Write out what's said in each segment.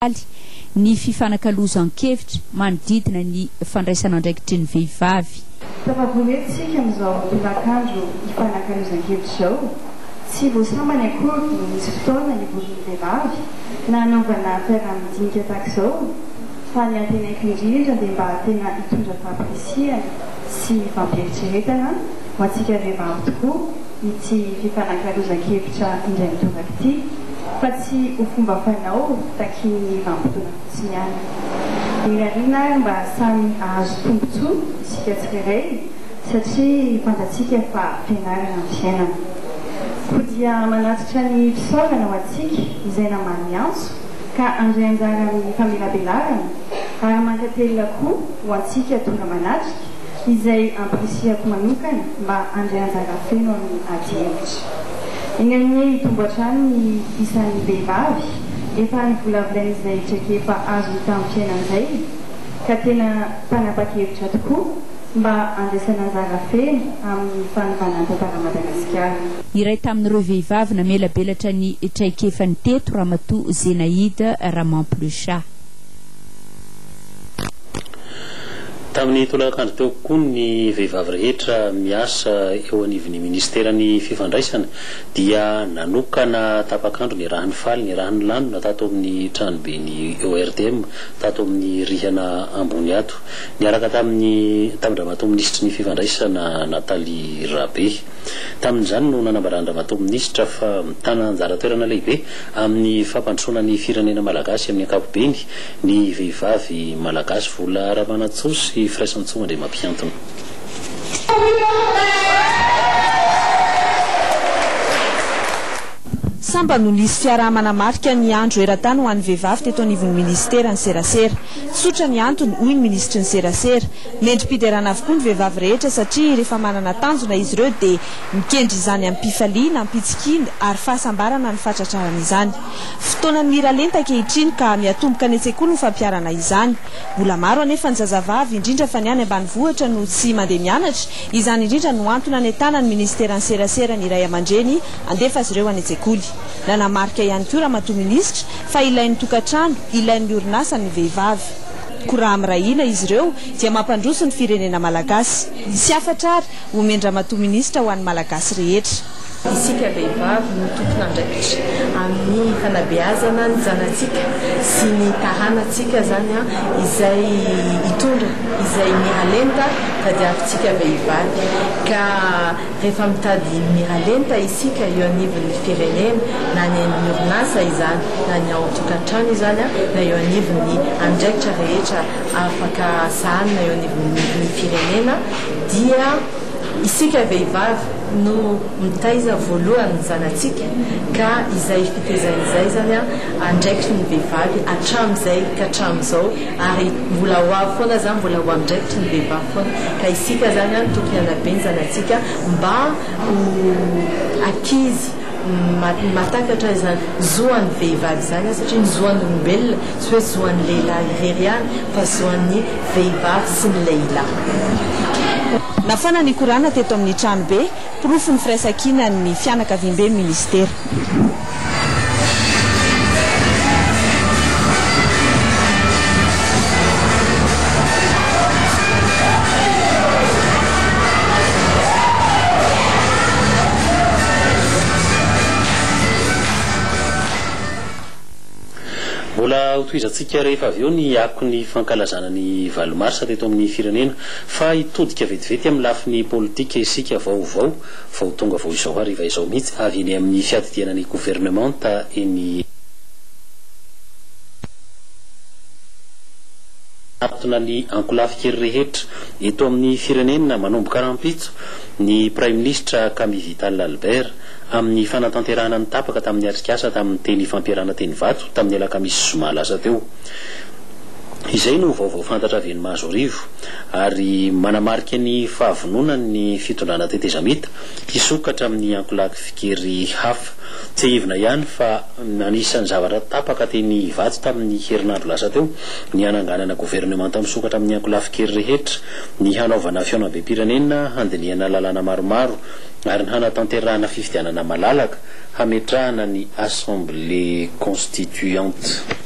faly ny fifanakalozan-kevitra manodidina ny fandraisan'andraikitry ny vehivavy. Tafavory eto isika amin'izao tolakandro hifanakalozan-kevitra izao. Tsy voasambany akory ny nisy fotoana nivorian'ny vehivavy na hanaovana fiaraha-midinika tahaka izao fa ny antenaiko indrindra dia mba tena hitondra fahampirisihana sy fampieritreretana ho antsika vehivavy tokoa, ity fifanakalozan-kevitra indray mitondraka ity fa tsy ho fomba fanao takian'ny vanim-potoana fotsiny ihany. Mirariana ary mba samy hahazo tombontsoa isika tsirairay satria fantatsika fa fianarana ny fiainana. Koa dia manatitra ny fisaorana ho antsika izay namaly ny antso ka handray anjara amin'ny famelabelarana ary mankatelina koa ho antsika tonga manatrika, izay ampirisihako manokana mba handray anjara feno amin'ny adihevitra. Eny amin'ie hitombo hatrany ny isan'ny vehivavy efa nivolavolain'izy izay traikefa azony tamin'ny fiainany izay ka tena mpanapa-kevitra tokoa mba handraisana anjara feno amin'ny fanovana ny tantaran'i Madagasikara. Iray tamin'ireo vehivavy namelabelatra ny traikefany teto Ramatoa Zenaïde Ramampolosha. Tamin'ny tolakandro teo koa ny vehivavy rehetra miasa eo anivon'ny minisiteran'ny fifandraisana dia nanokana tapak'andro niarahan'ny faly niarahan'ny lanona tato amin'ny tranoben'ny ORTM tato amin'ny rihana ambony ato niaraka tamin'ny tamin-dRamatoa minisitry ny fifandraisana Nathalie Rabe. Tamin'izany no nanambaran'ny Ramatoa minisitra fa mitana anjara toerana lehibe Amin'ny fampandrosoana ny firenena malagasy amin'ny ankapobeny, ny vehivavy malagasy, Vola Ramanantsoa sy Firaisantsoa Andriamampiantona. Sambany no nisy fiaraha-manamarika ny andro eran-tany ho an'ny vehivavy teto anivon'ny minisitera ny serasera. Tsotra ny antony, hoy ny minisitry ny serasera. Mendri-piderana avokoa ny vehivavy rehetra satria rehefa manana tanjona izy ireo dia Mikendry izany amim-pifaliana, ampitsikiana ary fahasambarana ny fahatratrarana izany. Fotoanan'ny miralenta ankehitriny ka miatomboka any an-tsekoly ny fampiharana izany. Mbola maro anefa ny zazavavy, indrindra fa ny any ambanivohitra no tsy mandeha mianatra, izany indrindra no antony anentanan'ny minisiteran'ny serasera ny ray aman-dreny handefa azy ireo any an-tsekoly. Nanamarika ihany koa Ramatoa Minisitra fa ilain'ny tokantrano, ilain'ny orinasa ny vehivavy. Koa raha miray hina izy ireo dia mampandroso ny firenena malagasy. Misy hafatra ary, Omen-dRamatoa Minisitra ho an'ny Malagasy rehetra. Isika vehivavy no tompon'andraikitra amin'ny fanabeazana ny zanatsika sy ny taranantsika izany izay hitondra izay miralenta tadiavintsika vehivavy ka rehefa mitady miralenta isika eo anivon'ny firenena na any amin'ny orinasa izany na ny ao an-tokantrano izany na eo anivon'ny andraikitra rehetra afaka sahanina eo anivon'ny firenena dia isika vehivavy no mitaiza voalohany ny zanatsika ka izay fitaizana izay zany an andraikitry ny vehivavy hatramizay ka hatramizao ary mbola ho avy foana zany mbola ho andraikitry ny vehivavy foana ka isika zany an tokony hanabe ny zanatsika mba ho akizy Mahatakatra izany zo an'ny vehivavy izany aho satria ny zo an'olombelona tsy hoe zo an'ny lehilahy irery ihany fa zo an'ny vehivavy sy ny lehilahy. Nafana ny Kor'ana teto amin'ny tranobe, porofon'ny firaisankinan'ny fianakaviamben'ny Minisitera. Mbola hotohizantsika rehefa avy eo ny akon'ny fankalazana ny valo marsa teto amin'ny firenena. Fa hitodika vetivety amin'ny lafiny politika isika vaovao vao tonga vao izao hariva izao mihitsy avy eny amin'ny fiadidiana ny governemanta eny Anatona ny ankolafy kely rehetra eto amin'ny firenena manomboka rahampitso ny Praiminisitra Camille Vital Albert, amin'ny fanatanterahana ny tapaka tamin'ny atrikasa tamin'ny teny ifampiarahana teny Ivato tamin'ny alakamisy zoma lasa teo. Izay no vaovao fantatra avy eny Mahazoarivo ary manamarika ny fahavononan'ny fitondrana tetezamita hisokatra amin'ny ankolafy fikery hafa. Tsiahivina ihany fa anisan'ny zavatra tapaka teny Ivato tamin'ny herinandro lasa teo ny hananganana governemanta misokatra amin'ny ankolafy fikery rehetra, ny hanaovana fihaonambem-pirenena handinihana lalàna maromaro ary ny hanatanterahana fifidianana malalaka hametrahana ny Assemblée Constituante.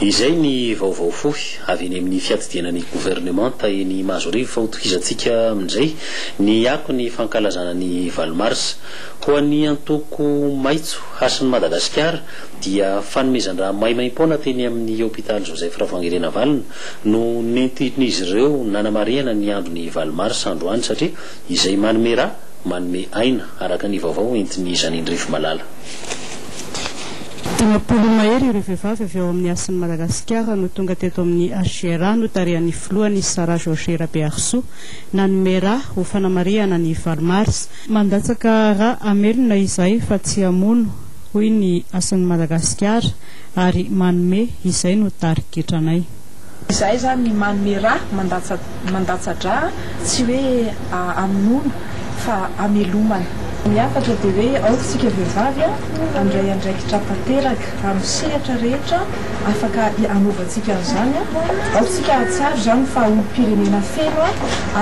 Izay ny vaovao fohy avy eny amin'ny fiadidiana ny governemanta eny Mahazoarivo fa hotokizantsika amin'izay ny akon'ny fankalazana ny valo marsa. Ho an'ny antoko maitso, Hasin'i Madagasikara dia fanomezan-drà maimaim-poana teny amin'ny hopitaly Joseph Ravoahangy Rinavalona no nentin'izy ireo nanamarihana ny andron'ny valo marsa androany satria izay manome ra, manome aina, araka ny vaovao entin'i Janine Rivomalala. Dimampolo mahery ireo vehivavy avy ao amin'ny Hasin'i Madagasikara no tonga teto amin'ny HCRA notarihan'ny filohany Sarah Georges Rabearisoa nanome ra ho fanamarihana ny valo marsa. Mandatsaka ra hamelona izahay fa tsy hamono, hoy ny Hasin'i Madagasikara. ary manome izay no tarigetranay. Izahay izany ny manome ra mandatsa-dra tsy hoe amonoana fa amelomana. Ny hafatra dia hoe aoka isika vehivavy handray andraikitra tanteraka amin'ny sehatra rehetra afaka hanaovantsika an'izany. Aoka isika hahatsiaro izany fa olom-pirenena feno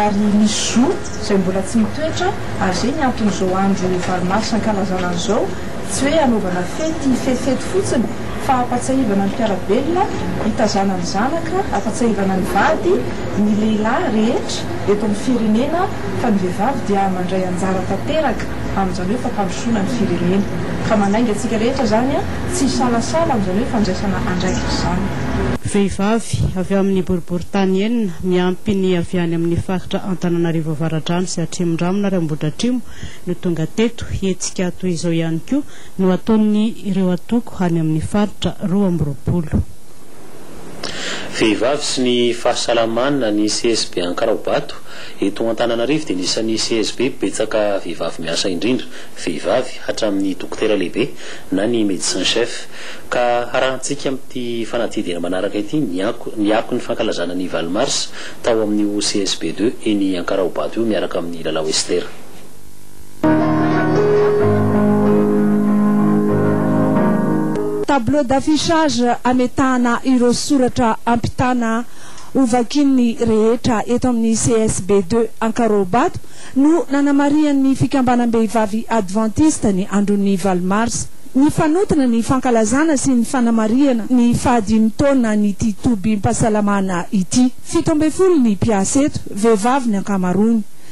ary misy zo izay mbola tsy mitoetra ary izay ny anton'izao andro valo mars ankalazana an'izao. Tsy hoe hanaovana fety fefety fotsiny fa hampatsiahivana ny mpiara-belona hitazana ny zanaka, hampatsiahivana ny vady, ny lehilahy rehetra eto amin'ny firenena fa ny vehivavy dia mandray anjara tanteraka amin'izany hoe fampandrosoana ny firenena. Ka manainga antsika rehetra izany, tsy hisalasala amin'izany hoe fandraisana andraikitra izany. Vehivavy avy ao amin'ny boriborintany enina miampy ny avy any amin'ny faritra Antananarivo Avaradrano sy Atrimondranomna ary Ambohidratrimo, no tonga teto. Hetsika toy izao ihany koa no ataon'ny ireo antoko any amin'ny faritra roa amby roapolo. Vehivavy sy ny fahasalamana ny CSB Ankaraobato. Eto Antananarivo dia ny isan'ny CSB betsaka vehivavy miasa indrindra, vehivavy hatramin'ny dokotera lehibe na ny medecin chef. Ka harahantsika amin'ity fanadihadiana manaraka ity ny ny akon'ny fankalazana ny valo marsa tao amin'io CSB deux eny Ankaraobato io miaraka amin'ny Lalao Esther. Tableau d'affichage ametahana ireo soratra ampitana ho vakian'ny rehetra eto amin'ny CSB deux Ankarobato no nanamarihan'ny fikambanam-behivavy Advantista ny andron'ny valo marsa. Nifanotona ny fankalazana sy ny fanamarihana ny fahadimy taonan'ity tobim-pahasalamana ity. Fito ambin'ny folo ny mpiasa eto, vehivavy ny ankamaroany.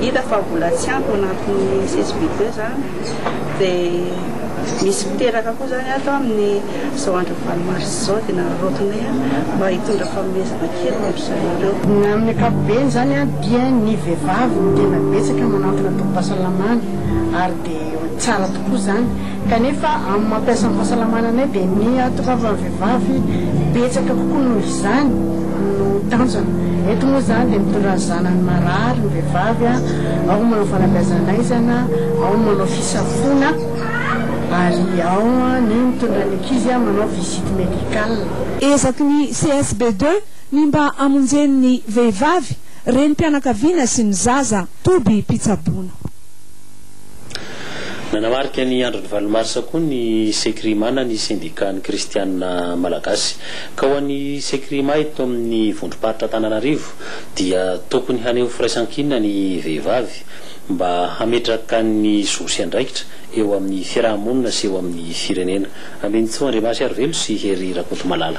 Hita fa mbola tsy ampy ny anton'ny CSBD izany dia misy miteraka koa izany ato amin'ny izao andron'ny valo marsa izao dia naraotinay mba hitondra fanomezana kely ho an-dry zareo ireo. Amin'ny ankapobeny izany dia ny vehivavy no tena betsaka manantona tobim-pahasalamana ary dia tsara tokoa izany Kanefa amin'ny mampiasa ny fahasalamana anay dia ny hatongavan'ny vehivavy betsaka kokoa noho izany no tanjona. Eto moa izany dia mitondra ny zanany marary ny vehivavy, ao ny manao fanabeazan'aizana, ao ny manao fisafoana ary ao ny mitondra ny ankizy manao visite médicale. Ezaky ny CSBD ny mba hamonjeny ny vehivavy, renim-pianakaviana sy ny zaza toby mpitsaboana. Nanamarika ny andron'ny valo marsa koa ny Secrima na ny Sendikan'ny Kristianina Malagasy. Ka ho an'ny Secrima eto amin'ny vondrom-paritra Antananarivo dia tokony haneho firaisankina ny vehivavy mba hametraka ny zo sy andraikitra eo amin'ny fiaraha-monina sy eo amin'ny firenena. Ambinintsoa Andriamahasiarivelo sy Hery Rakotomalala.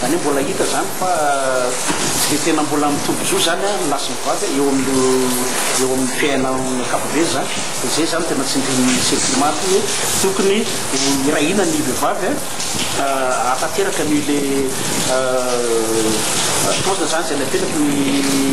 Zany hoe mbola hita zany fa tsy dia tena mbola mitombon-jo zany an ny lahy sy ny vavy eo amin'io eo amin'ny fiainana amin'ny ankapobeny zany dia zay zany tena tsindrin'ny CEPIMA aty hoe tokony ho hirahina ny vehivavy an hahatanteraka an'io le tohana zany zay napetraky ny